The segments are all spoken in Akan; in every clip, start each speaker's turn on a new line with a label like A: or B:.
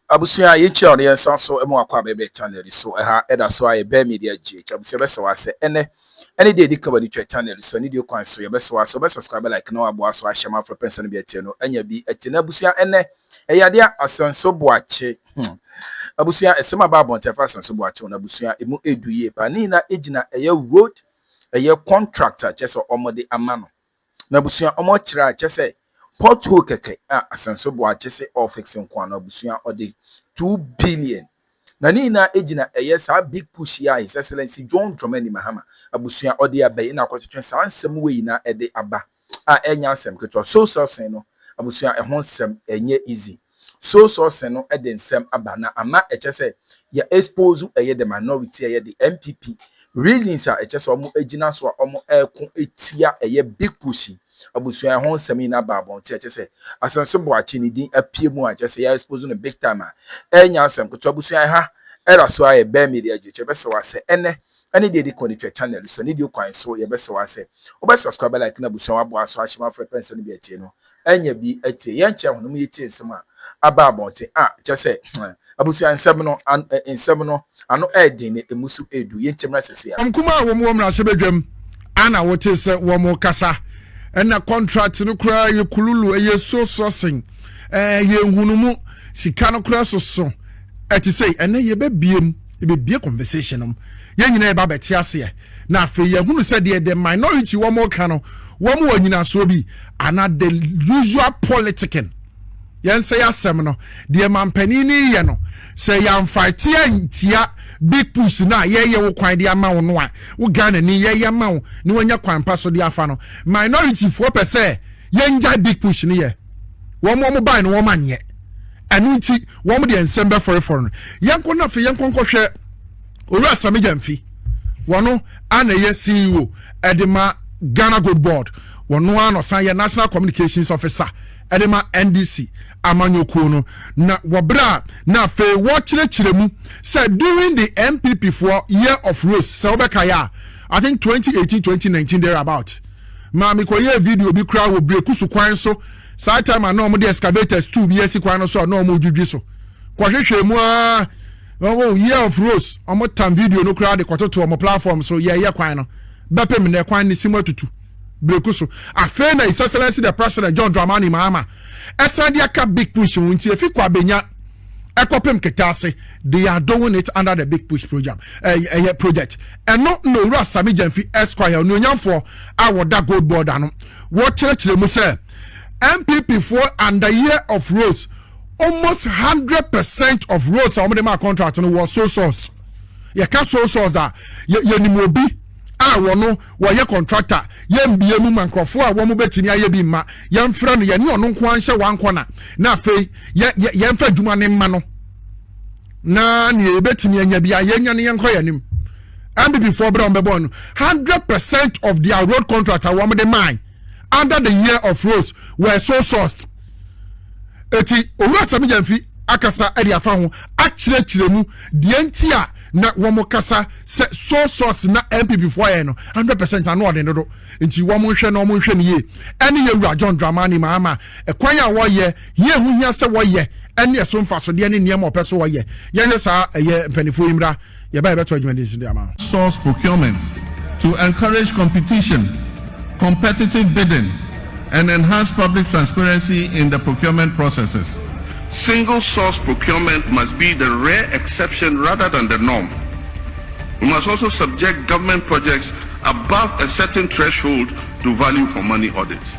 A: abusua yɛkyia ɔno yɛn san so mu akɔ abɛbɛ channel yi so ɛha ɛda so a yɛbɛn media gh abusua bɛsɛ wɔ asɛ ɛnɛ ɛne deɛ ɛdi kaba ne twa channel so ɛne deɛ kwan so yɛbɛsɛ wɔ asɛ wobɛ subscribe like na waboa so ahyɛ ma afrɛ pɛnsɛ no bi ɛteɛ no anya bi ɛte na abusua ɛnɛ ɛyɛ adeɛ a asɛnso boakye hmm. abusua ɛsɛm aba abɔnten afa asɛnso boakye wɔn abusua ɛmu ɛdu yie paa ne nyinaa ɛgyina ɛyɛ road ɛyɛ contract a kyɛ sɛ wɔde ama no na abusua wɔkyerɛ a kyɛ sɛ pothole kɛkɛ a asɛnso boa kyɛ sɛ ɔfix nko ano abusua ɔde two billion na ne nyinaa egyina ɛyɛ saa big push yi a his excellency john dramani mahama abusua ɔde abɛyi na akɔtwetwe saa nsɛm wei na ɛde aba a ɛnyɛ asɛm ketewa soul sourcing no abusua ɛho nsɛm ɛnyɛ easy soul sourcing no ɛde nsɛm aba na ama ɛkyɛ sɛ yɛ expose ɛyɛ the minority ɛyɛ the NPP reasons a ɛkyɛ sɛ ɔmo ɛgyina so a ɔmo ɛko ɛtia ɛyɛ big push abusua ɛho nsɛm yi na aba abɔnten ɛkyɛ sɛ asɛnso boakye ne din apue mu a ɛkyɛ sɛ yɛ expose no big time a ɛnyɛ asɛm ketewa abusua ɛha ɛda so a ɛbɛn media adwo kyɛ bɛsɛ wɔ asɛ ɛnɛ ɛne deɛ ɛdikɔ no twa channel so ne deɛ okwan so yɛbɛsrɛ wo asɛ wobɛ subscribe like na abusua wabɔ aso ahyɛ ma frɛ pɛ nsɛm no bi atie no anya bi atie yɛn kyɛ ho no mu yɛtie nsɛm a aba abɔnten a kyɛ sɛ abusua nsɛm no nsɛm no ano ɛɛden na ɛmu so ɛɛdu yɛn ntam na sɛ sɛ Wɔn nkumaa a wɔn wɔ mmarahyɛ badwam a na wotee sɛ wɔn rekasa ɛna contract no koraa yɛ kululu ɛyɛ so sourcing ɛɛ yɛ nhunumu sika no koraa soso ɛte sɛ ɛnɛ yɛbɛbiem. yɛbɛbie conversation nom yɛn nyina yɛba bɛte aseɛ na afei yɛhunu sɛ deɛ the minority wɔn ɔka no wɔn wɔ nyinasoɔ bi ana the usual politicking yɛn sɛ yɛasɛm no deɛ mampanin no yɛ no sɛ yɛamfaete antia big push no a yɛyɛ wo kwan de ama wo no a wo ghana ni yɛyɛ ma wo ne wanya kwan pa so de afa no minority foɔ pɛ sɛ yɛngyae big push no yɛ wɔn wɔn ban no wɔn anyɛ ɛno nti wɔn deɛ nsɛm bɛfɔrefɔre no yɛnkɔ no afei yɛnkɔ nkɔhwɛ owura sami gyamfi wɔn ana ɛyɛ ceo ɛde ma ghana gold board wɔn ara na ɔsan yɛ national communications officer ɛde ma ndc amanyɔkuo no na wɔbrɛ a na afei wɔkyerɛkyerɛ mu sɛ during the npp foɔ year of rose sɛ wobɛka yɛ a i think 2018 2019 there about maame kɔyɛɛ video bi koraa wɔ berekusu kwan so Saa time a na wɔn de excavators tu bi asi kwan no so a na wɔn redwidwi so kɔhwehwɛ mu aa oh year of rose wɔn tam video no koraa de kɔtoto wɔn platform so yɛɛyɛ kwan no bɛpem na kwan ne si mu atutu breku so afei na his excellency the president john dramani mahama ɛsan de aka big push ho nti efi kɔ abenya ɛkɔpem keta ase they are doing it under the big push program ɛyɛ eh, eh, project ɛno na owura sami gyamfi esquire onuonyamfoɔ a wɔda gold board ano. wɔkyerɛkyerɛ mu sɛ npp foɔ under year of roads almost hundred percent of roads a wɔde ma contract no wɔ sole source yɛka sole source a yɛnim obi a wɔn wɔyɛ contractor yɛmbie mu ma nkurɔfoɔ a wɔn bɛtumi ayɛ bi mma yɛmfrɛ no yɛne ɔno nko anhyɛ wankɔ na na afei yɛmfa adwuma ne mma no na nea yɛbɛtumi anya bia yɛnya ne yɛnkɔ yɛn anim mppfoɔ berɛ a wɔbɛbɔ no hundred percent of their road contract a wɔde mae under the year of roads were so sourced eti owura sɛbi yɛn fi akasa de afa ho akyerɛkyerɛ mu deɛ nti a na wɔn kasa sɛ so source na npp foɔ yɛ no hundred percent ano ɔden dodo nti wɔn nhwɛ na wɔn nhwɛ no yie ɛne yɛ wura john dramani maama ɛkwan a wɔyɛ. Yie ho hia sɛ wɔyɛ ne ɛso mfasodeɛ ne nneɛma ɔpɛ sɛ wɔyɛ. Yɛnyɛ saa ɛyɛ mpaninfoɔ yi mmra yɛba yɛbɛtɔ adwuma din so de ama. Source procurement to encourage competition, competitive bidding, and enhance public transparency in the procurement processes. Single source procurement must be the rare exception rather than the norm. We must also subject government projects above a certain threshold to value for money audits.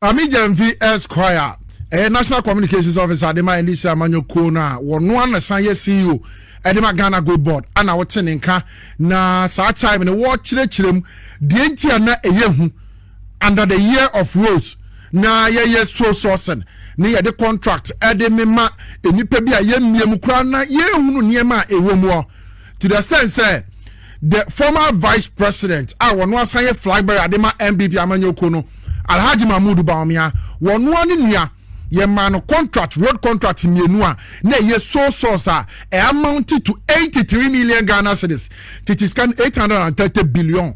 A: Ame Gyamfi Esquire a ɛyɛ National Communications Officer de ma NDC amanyɔ kuo no a wɔno ano san yɛ CEO de ma Ghana Gold Board ana wɔte ne nka na saa time no wɔkyerɛkyerɛ mu deɛ nti a na ɛyɛ hu under the year of rose na yɛyɛ so sourcing ne yɛde contract de mema nnipa bi a yɛmmie mu koraa na yɛhunu nneɛma a ɛwɔ mu hɔ to the extent sɛ the former vice president a wɔn asan yɛ flag bearer de ma npp amanyɔkuo no alhaji mahmood baomia wɔn ne nua yɛ maa no contract road contract mmienu a na ɛyɛ sole source a ɛyɛ amounted to eighty three million ghana cedis tete sika no eight hundred and thirty billion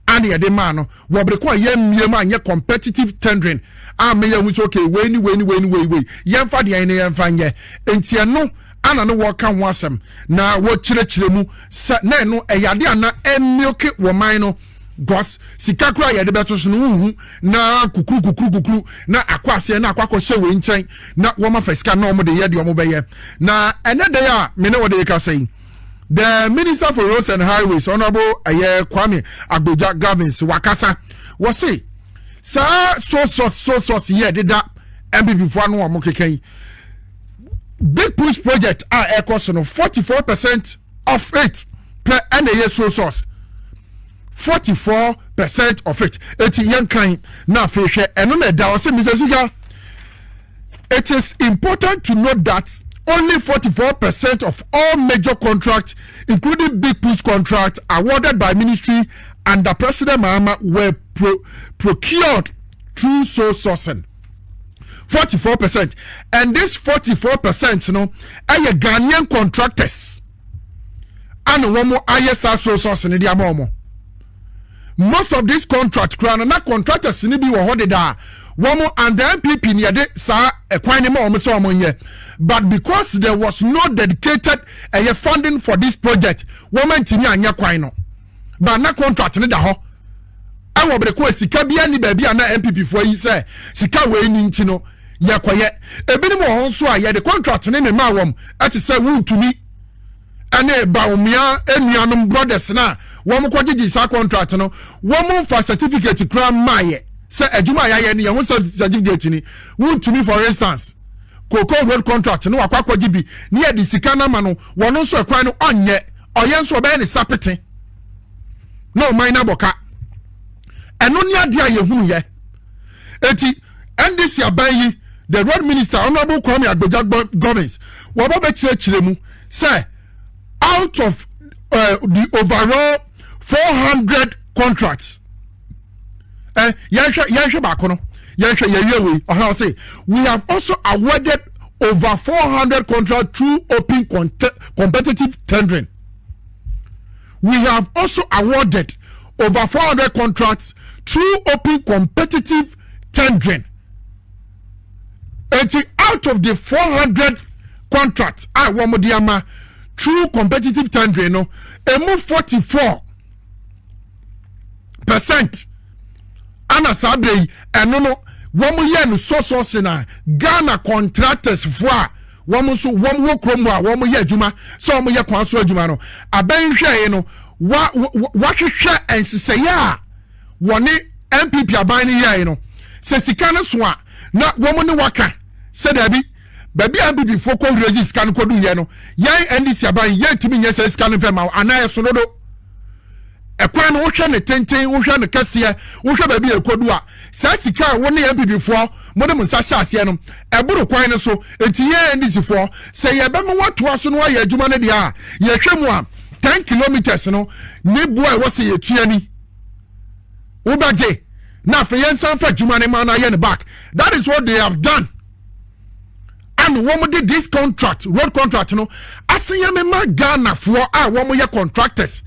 A: a na yɛde maa no wɔ bere ko a yɛ mmiem a nyɛ competitive tendering a meyɛ ho sɛ okay wei ni wei ni wei ni wei wei yɛnfa deɛ yɛn ne yɛnfa nyɛ nti ɛno ana ne wɔka ho asɛm na wɔkyerɛkyerɛ mu sɛ na ɛno ɛyɛ ade a na ɛmioke wɔ man no gɔs sika kora yɛde bɛto so no wohu na kukuru kukuru kukuru na akɔ aseɛ na akɔ akɔhyɛ wei nkyɛn na wɔma fa sika na wɔde yɛ deɛ wɔbɛyɛ na ɛnɛ dɛn a me ne wɔde kasa yi the minister for roads and highways honourable ɛyɛ kwame agbodza gavins wakasa wɔse saa sosos sosos yɛ deda mpp foɔ ano wɔn keka yi big push project a ɛkɔ so no forty four percent of it pɛ ɛna ɛyɛ sole source forty four percent of it eti yɛn kan na afei hwɛ ɛno na ɛda ɔsɛ mr speaker it is important to note that only forty four percent of all major contracts including big push contracts awarded by ministry under president mahama were pro procured through sole sourcing. forty four percent and this forty four percent no ɛyɛ ghanaian contractors ɛna wɔn ayɛ saa so so asene de ama wɔn most of this contract kura no na contractors ni bi wɔ hɔ dedaa wɔn and the npp ni yɛde saa ɛkwan ne ma wɔn sɛ wɔn nyɛ but because there was no dedicated ɛyɛ funding for this project wɔn ntumi anyɛ kwan no. ba na contract ne da hɔ ɛwɔ bere ko a sika bi ani baabi a na npp foɔ yi sɛ sika wɔ ani nti no yɛkɔyɛ ebinom wɔ hɔ nso a yɛde contract ne ne maa wɔn ɛte sɛ wuntumi ɛne baomia enuanom brothers na wɔn kɔ gyegye saa contract no wɔn fa certificate kura mmaayɛ sɛ adwuma a yɛayɛ no yɛn ho certificate ni wuntumi for instance cocoa road contract no wakɔ akɔgye bi ne yɛde sika no ama no wɔn nso ɛkwan no ɔnyɛ. ɔyɛ nso ɔbɛyɛ ne sapete na ɔman no abɔ ka ɛno ne adeɛ a yɛhunu yɛ eti ndc aban yi the road minister honourable kwame agbegya govins wɔbɛ bɛkyerɛkyerɛ mu sɛ out of uh, the overall four hundred contracts. ɛ yɛnhwɛ yɛnhwɛ baako no yɛnhwɛ yɛwie wei ɔhɛn ɔse we have also awarded over four hundred contract through open competitive tendering we have also awarded over four hundred contracts through open competitive tendering eti out of the four hundred contracts a wɔn de ama through competitive tendering no emu forty four. percent ana saa berɛ yi ɛno no wɔn yɛ no sɔsɔ se na ghana contractors foɔ a wɔn nso wɔn wɔ kurom a wɔn yɛ adwuma sɛ wɔn yɛ kwan so adwuma no abɛnhwɛɛ no wa wahwehwɛ nhyehyɛeɛ a wɔne npp aban no yɛe no sɛ sika no so a na wɔn ne waka sɛ daabi baabi a nppfoɔ kɔ rezi sika no kɔdu yɛ no yɛn ndc aban yɛntumi nyɛ sɛ sika no mfɛ ma anaa ɛso dodo ɛkwan no wohwɛ ne tenten wohwɛ no kɛseɛ wohwɛ baabi a ɛkɔdu a saa sika a wo ne nppfoɔ mo de mo nsa hyɛ aseɛ no ɛboro kwan no so nti yɛn ndcfoɔ sɛ yɛbɛma woatoa so no ayɛ adwuma no deɛ a yɛhwɛ mu a ten kilometers no ne boa ɛwɔ sɛ yɛtua ni wobɛgye na afei yɛnsan fa adwuma no ma no ayɛ no back that is what they have done ɛna wɔn de this contract road contract no asan yɛ mema ghanafoɔ a wɔn yɛ contractors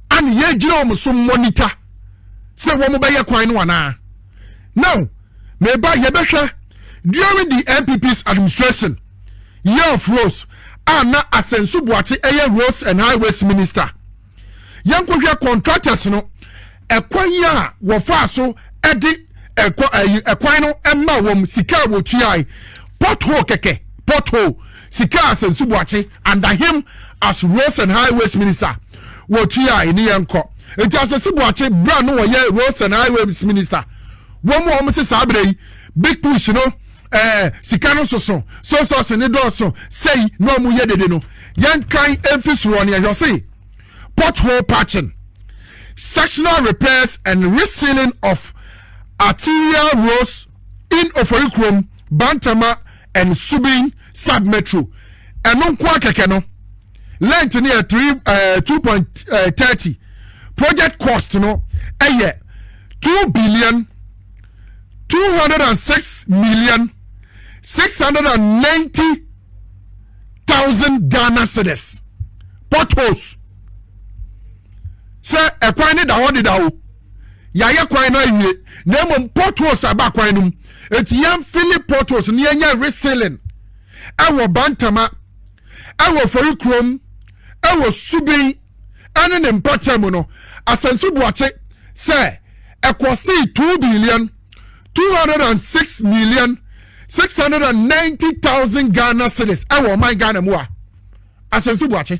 A: ɛna yɛgyina wɔn so monitor sɛ wɔn bɛyɛ kwan no anaa now meba yɛbɛhwɛ during the npp's administration year of roads a na asɛnso buakye ɛyɛ roads and highways minister. yɛnkɔhwɛ contractors no ɛkwan yi a wɔfaa so ɛde ɛkɔ ɛyi ɛkwan no ɛma wɔn sika a wɔtuae pothole kɛkɛ pothole sika a sɛnsu buakye under him as roads and highways minister wɔtuae ne yɛn kɔ nti asɛsi buakye bra no wɔyɛ roads and highways minister wɔn a wɔn sɛ saa abere yi big push no. ɛɛ eh, sika no soso so sɔɔse ne dɔɔso sɛyi na wɔn yɛ dede no yɛn kan efi soro ne ɛhwɛ se pothole patching sectional repairs and resealing of arterial roads in oforikurom bantama and subin sub metro ɛno nko akɛkɛ no length no yɛ three ɛɛ eh, two point eh, thirty project cost no ɛyɛ two billion. two hundred and six million six hundred and ninety thousand ghana cedis potholes sɛ ɛkwan ne da hɔ deda o yɛayɛ kwan no awie na mmom potholes aba kwan no mu eti yɛn fili potholes ne yɛn nyɛ resealing ɛwɔ bantama ɛwɔ fori kurom ɛwɔ subin ɛne ne mpɔtam mu no, Asansu Boakye sɛ ɛkɔsee two billion two hundred and six million six hundred and ninety thousand Ghana cedis ɛwɔ ɔman Ghana mu a Asansu Boakye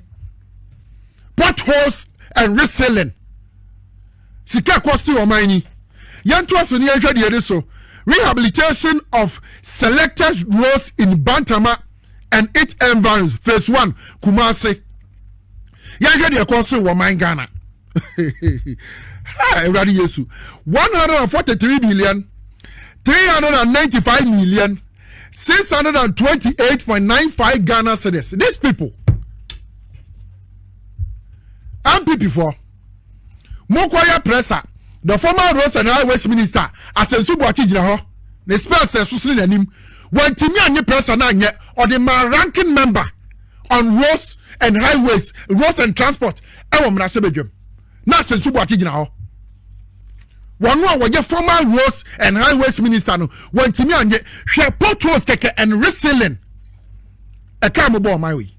A: potholes and resealing sika ɛkɔsi ɔman ni yɛntoa so ne yɛnhwɛ deɛ ɛde so rehabilitation of selected roads in Bantama and its environs phase one Kumasi. yɛnhwɛ deɛ ɛkɔ so wɔ man ghana awurade yesu 143 billion 395 million 628.95 ghana cedis these people mpp foɔ mokɔyɛ pressa the former roads and highways minister asɛnso buakye gyina hɔ ne spɛs ɛso sene n'anim wɔntumi anye pressa no anyɛ ɔde maa ranking member on roads and highways roads and transport ɛwɔ mmarahyɛbadwam na asɛnso boakye gyina hɔ wɔn a wɔyɛ former roads and highways minister no wɔntumi anye hwɛ potholes kɛkɛ and resealing ɛka mo bɔ ɔman wei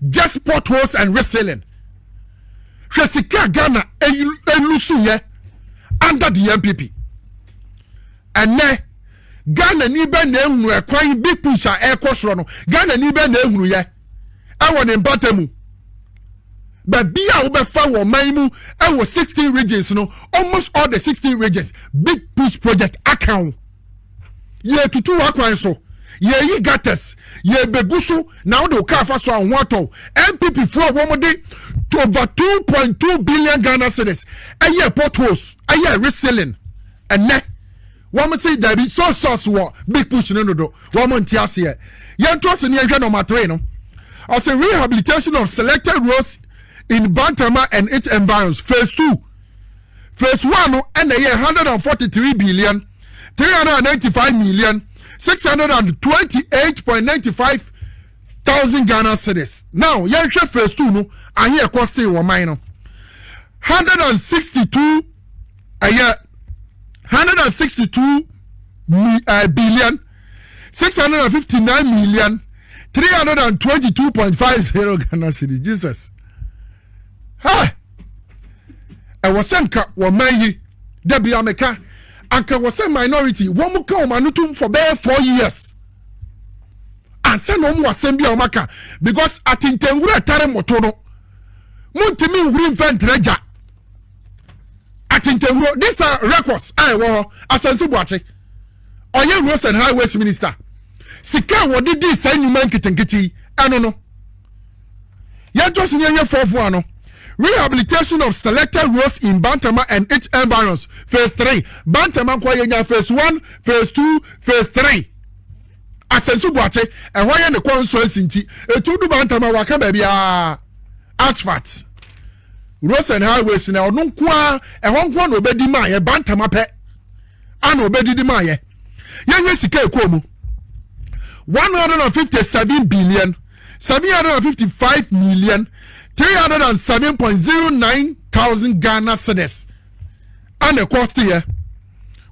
A: just potholes and resealing hwɛ sika ghana elusu yɛ under the npp ɛnɛ. Ghanani bɛn na ehunu ɛkwan Big Push a ɛrekɔ soro no? Ghanani bɛn na ehunu yɛ ɛwɔ ne mpata mu? Baabi a wobɛfa wɔ ɔman mu ɛwɔ sixteen regions no, almost all the sixteen regions, Big Push project aka ho. Yɛtutu w'akwan so, yɛyi gutters, yɛbɛgu so na wode wo kaa fa so a ho atɔ wo. NPP foɔ wɔn de over two point two billion Ghana cedis ɛyɛ potholes ɛyɛ resealing ɛnɛ. Wɔn se dabi so sos wɔ big push no dodo wɔn nte aseɛ yɛnto ase ne yɛnhwɛ number three no ɔse rehabilitation of selected roads in Bantama and its environs phase two phase one no ɛna ɛyɛ hundred and forty three billion three hundred and ninety five million six hundred and twenty eight point ninety five thousand Ghana cedis now yɛnhwɛ phase two no ahe ɛkɔ stay wɔ man no hundred and sixty two. ɛyɛ hundred and sixty two eh, billion six hundred and fifty nine million three hundred and twenty two point five zero ghana cedis jesus ha ɛwɔ sɛ nka wɔman yi dabi ameka anka wɔ sɛ minority wɔn mu ka wɔn ano tum for bɛyɛ four years ansa na wɔn wɔ asɛm bi a wɔn aka because atentɛnwura tare moto no mo ntumi nhuri nfɛn tẹrɛ gya. Atentewuro, these are records a ɛwɔ hɔ, Asante Boakye, ɔyɛ roads and highways minister. Sika a wɔde dii saa nnwuma nketenkete yi, ɛno no. Yɛntɔ so ne yɛnyɛ fɔɔfo ano. Rehabilitation of selected roads in Bantama and its environs, phase three. Bantama nkɔ yɛnya phase one, phase two, phase three. Asante Boakye, ɛhɔ yɛ ne kɔnsɔnsi nti, etu du Bantama waka baabi a asphalt. Roads and Highways na ɔno nko ara ɛhɔ nko na ɔbɛdi maa yɛ bantama pɛ ana ɔbɛdidi maa yɛ yɛhwɛ sika ɛkɔɔ mu one hundred and fifty seven billion seven hundred and fifty five million three hundred and seven point zero nine thousand Ghana cedis ana ɛkɔɔ se yɛ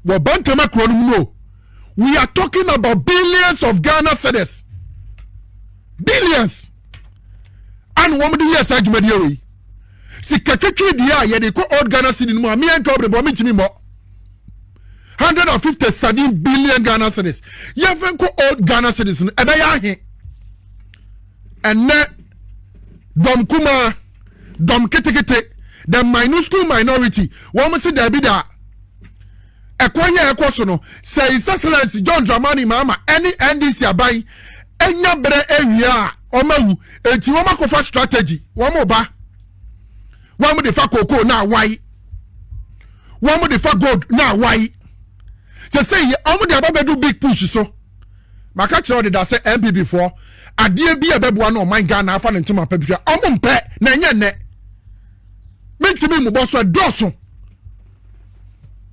A: wɔ bantama kuro no mu no we are talking about billions of Ghana cedis billions. ana wɔn de yɛ saa dwumadie wei sika twitwi deɛ a yɛde kɔ old ghana city no mu a meɛ nka ɔbɛbɔ ɔmo ntumi mmɔ hundred and fifty seven billion ghana cities yɛfɛ nkɔ old ghana cities no ɛbɛyɛ ahe ɛnɛ dɔm kumaa dɔm ketekete the minuscule minority wɔn si daabi daa. ɛkɔ yɛ ɛkɔ so no sɛ His Excellency John Dramani Mahama ɛne NDC aban ɛnya berɛ ɛwie a wɔn awu enti wɔn akɔfa strategy wɔn ba wɔn de fa koko na awae wɔn de fa gold na awae sɛ sɛ yɛ wɔn de ababɛdu big push so maka kyerɛ ɔde da sɛ NPP foɔ adeɛ bi a ɛbɛboa no ɔman Ghana afa ne ntoma pɛ bi hwɛ wɔn mpɛ na ɛnyɛ nnɛ mentumi mmobɔ so ɛdɔɔso.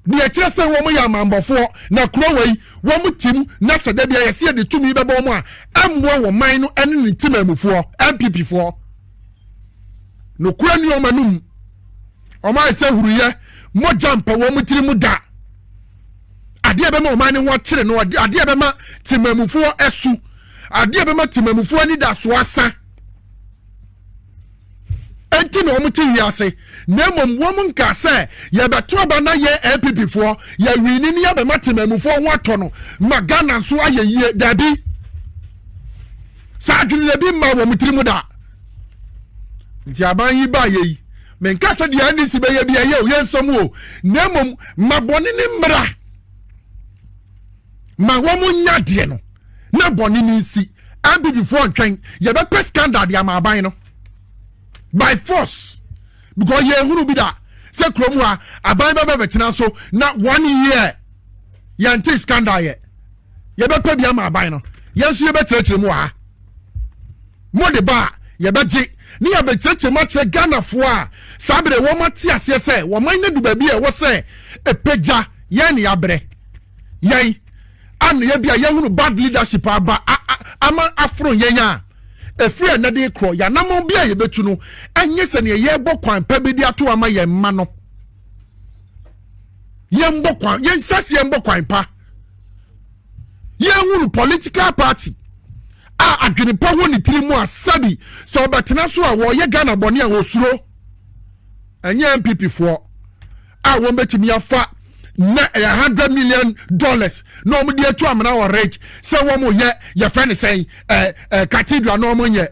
A: deɛ ɛkyerɛ sɛ wɔn yɛ amammɔfoɔ na kuro wɔ yi wɔn tim na sɛ da bi a yɛsi yɛde tumi bɛbɔ wɔn a ɛmmoa wɔn man no ɛne ne ntimamufoɔ npp foɔ nokora ni wɔn anum wɔn ayɛ sɛ huruyɛ mogya mpɛ wɔn tiri mu da adeɛ bɛma wɔn ani ho akyere no adeɛ bɛma timamufoɔ ɛsu adeɛ bɛma timamufoɔ anidasoɔ asa. nti na wɔn te wiase na mmom wɔn nka sɛ yɛbɛto aba na yɛ npp foɔ yɛwini ne yɛbɛma temamufoɔ ho atɔ no ma ghana nso ayɛ yie daabi saa adweneɛ bi mma wɔn tiri mu da nti aban yi baa yɛ yi menka sɛ deɛ ndc bɛyɛ bi ɛyɛ o yɛ nsɛm o na mmom ma bɔne ne mmara ma wɔn nya deɛ no na bɔne no nsi npp foɔ ntwɛn yɛbɛpɛ scandal de ama aban no by force because yɛn hunu bi da sɛ kurom hɔ a aban bɛbɛ bɛtena so na one year yɛn te scandal yɛ yɛbɛpɛ bi ama aban no yɛn nso yɛbɛkyerɛkyerɛ mu wɔ ha mo de ba a yɛbɛgye ne yɛbɛkyerɛkyerɛ mu akyerɛ ghanafoɔ a saa bere wɔn ate aseɛ sɛ wɔn man no du baabi a ɛwɔ sɛ ɛpɛgya yɛn ne yɛabrɛ yɛn anoyɛ bi a yɛhunu bad leadership aba ama aforo yɛn a ɛfiri ɛnɛ de korɔ yɛanamɔn bi a yɛbɛtu no ɛnyɛ sɛ neɛ yɛrebɔ kwan pɛ bi de ato ama yɛn mma no yɛmbɔ kwan yɛnhyɛ se yɛmbɔ kwan pa yɛhunu political party a adwene pa wɔ ne tiri mu a sɛbi sɛ ɔbɛtena so a wɔyɛ ghana bɔne a wɔsuro ɛnyɛ npp foɔ a wɔn bɛtumi afa na ɛyɛ eh, hundred million dollars na wɔn de atu amena wɔ rich sɛ wɔn yɛ yɛfɛ ne sɛn ɛɛ eh, ɛɛ eh, cathedral na wɔn nyɛ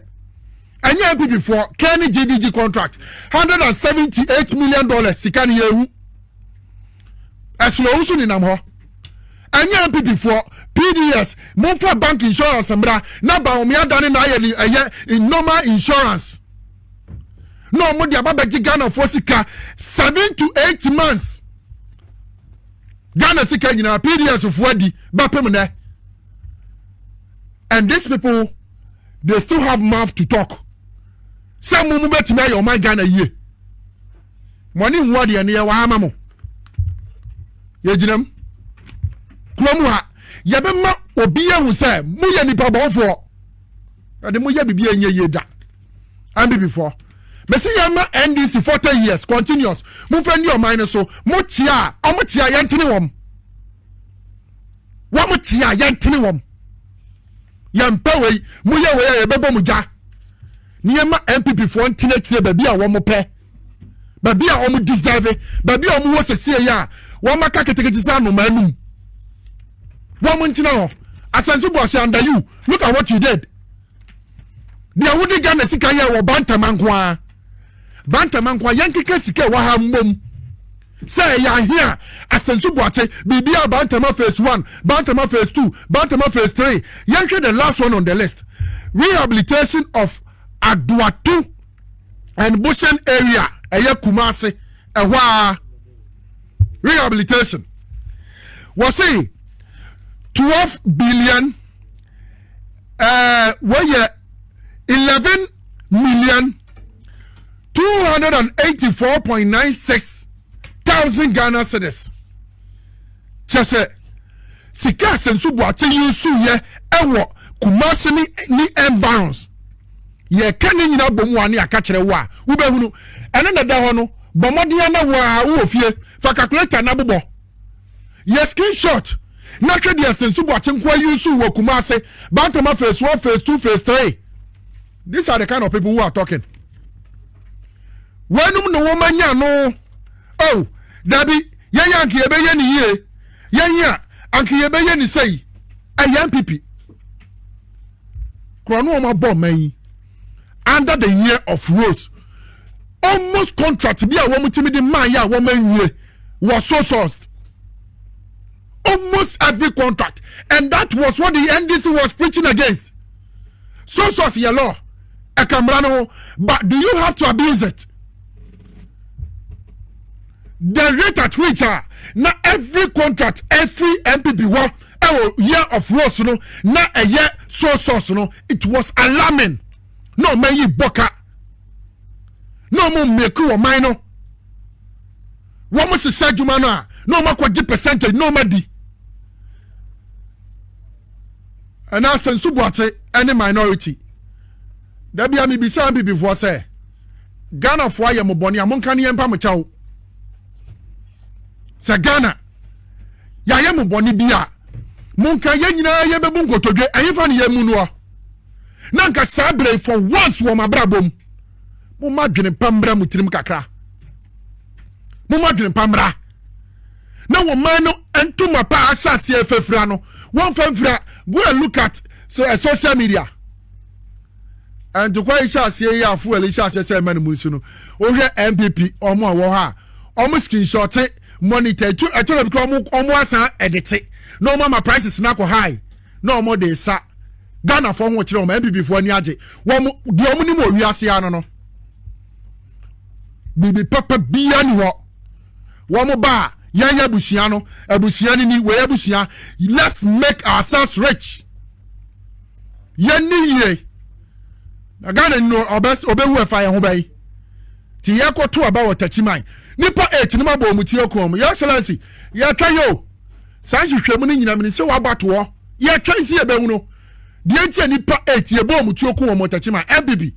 A: ɛnyɛ npp foɔ kɛn ne gdg contract hundred and seventy eight million dollars sika ne yɛhu ɛsono ohun so nenam hɔ ɛnyɛ npp foɔ pds mofa bank insurance mmra na baomia dane na ayɛ ne ɛyɛ normal insurance. na wɔn de aba bɛgye ghanafoɔ sika seven to eight months ghana sika nyinaa pds foɔ adi bɛpem nɛ and these people they still have mouth to talk sɛ mo mo bɛtumi ayɛ ɔman ghana yie mo ani nhu adeɛ no yɛ wɔ ama mo yɛgyinam kurom ha yɛbɛma obi ahu sɛ moyɛ nipa bɔnfoɔ ɛde moyɛ biribi a ɛnyɛ yie da nbpfoɔ mesi yɛn ma ndc forty years continuous mo nfa ni ɔman no so mo tia ɔmo tia yɛn tene wɔn wɔn tia yɛn tene wɔn yɛn mpɛ wei mo yɛ wei a yɛ bɛ bɔ mo gya ni yɛn ma npp foɔ ntena akyire baabi a wɔn pɛ baabi a wɔn deserve baabi a wɔn wɔ sɛsie yɛ a wɔn aka ketekete sɛ anoma anum wɔn ntena hɔ asɛnso bu ɔhyɛ under you look at what you did. deɛ wode ghana sika yɛ wɔ bantama nko a bantama nko a yɛnkeka sika wɔ ha mmom sɛ ɛyɛ ahe a asɛnso boakye biribi a bantama phase one bantama phase two bantama phase three yɛnhwɛ the last one on the list rehabilitation of adoato and bushen area ɛyɛ kumase ɛhɔ a rehabilitation wɔse twelve billion ɛɛ wɔyɛ eleven million two hundred and eighty four point nine six thousand ghana cedis kyɛ sɛ sika asɛnso buate yi nso yɛ ɛwɔ kumasi ne ne environs yɛka ne nyinaa bɔ mu a ne yɛaka kyerɛ wo a wobɛhunu ɛne na ɛda hɔ no bɔ mmɔden na wo a wowɔ fie fa calculator na bobɔ Yɛ screenshot na hwɛ deɛ Sensu Boakye nkoa yusu wɔ Kumase, Bantama phase one, phase two, phase three. These are the kind of people who are talking. Wɔnum ne wɔn anya no. Oh, dabi, yɛn yɛ anke yɛbɛyɛ ne yie. Yɛn yɛ anke yɛbɛyɛ ne sɛyi. Ɛyɛ npp. Korɔ no wɔn abɔ ɔman yi. under the year of rose almost contract bi a wɔn ti mi de maa yɛ a wɔn anwie was so sourced almost every contract and that was what the ndc was preaching against so source yɛ law ɛka mmara no ho but do you have to abuse it the rate at which a na every contract every npp wɔ. ɛwɔ year of rose no na ɛyɛ soy sauce no it was alarming na ɔman yi bɔ ka na ɔmo mmeko wɔ man no wɔn hyehyɛ adwuma no a na ɔmo akɔgye percentage na ɔmo adi ɛna sɛ nso buakye ɛne minority dabi a mibisa bibifoɔ sɛ ghanafoɔ ayɛ mo bɔne a monka ne yɛn mpa mo kyɛw sɛ ghana yɛayɛ mo bɔne bi a monka yɛn nyinaa yɛbɛbu nkotodwe ɛhefa ne yɛn mu noɔ na nka saa berɛ for once wɔ mabrabɔ mu momma adwene pa mmra mo tirim kakra momma adwene pa mmra na wɔn man no ntoma pa asase ɛfɛfira no wɔmfa mfira go and look at so, uh, social media ntokwa yi hyɛ aseɛ yi a fuel yi hyɛ aseɛ sɛ ɛma no mu nso no wohwɛ npp ɔmo a wɔwɔ hɔ a ɔmo screenshot monitor etu ɛtɔ na bi kora ɔmo ɔmo asan ɛdete na ɔmo ama prices na akɔ high na ɔmo de sa ghana fo ho kyerɛ ɔmo npp fo ani agye wɔn deɛ ɔmo nim wɔ wiase ano no biribi papa bia ni hɔ wɔn ba a yɛn yɛ abusua no abusua ni ni wɔ yɛ abusua let's make ourselves rich. yɛn ni yie na ghana ni no ɔbɛwu ɛfa yɛn ho bɛyi ti yɛkɔto aba wɔ takyiman nipa eight no ma bɔ ɔmo ti akɔn mu yɛ excellence yɛtwɛn yɛ o saa nhwehwɛ mu no nyinaa mi ni sɛ waba toɔ yɛtwɛn si yɛbɛhu no deɛ nti a nipa eight yɛ bɔ ɔmo ti akɔn wɔ ɔmo takyiman ɛbibi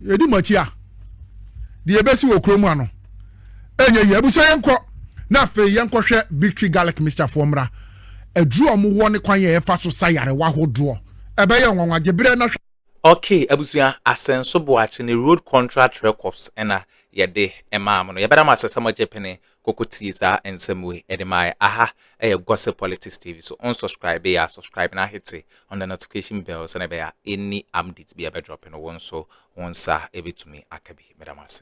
A: yɛdi mo akyi a deɛ ebesi wɔ kurom ano. ɛnyɛ yie abusua yɛn kɔ na afei yɛn kɔhwɛ victory garlic mixture foɔ mmra aduru a wɔwɔ ne kwan yɛ ɛfa so sa yarewa ahodoɔ ɛbɛyɛ nwanwa gyebrɛ na hwɛ. Okay abusua asɛnso boakye ne road contract records ɛna yɛde ɛmaa mo no yɛbɛda mo asɛ sɛ mo gye pene koko tie saa nsɛm wei ɛde maa yɛ aha ɛyɛ gossip politics tv so on subscribe yɛ a subscribe na ahete on the notification bell sɛ na ɛbɛyɛ any update bi ɛbɛ drop no wɔn so wɔn nsa ɛbɛtumi aka bi mɛda mo ase.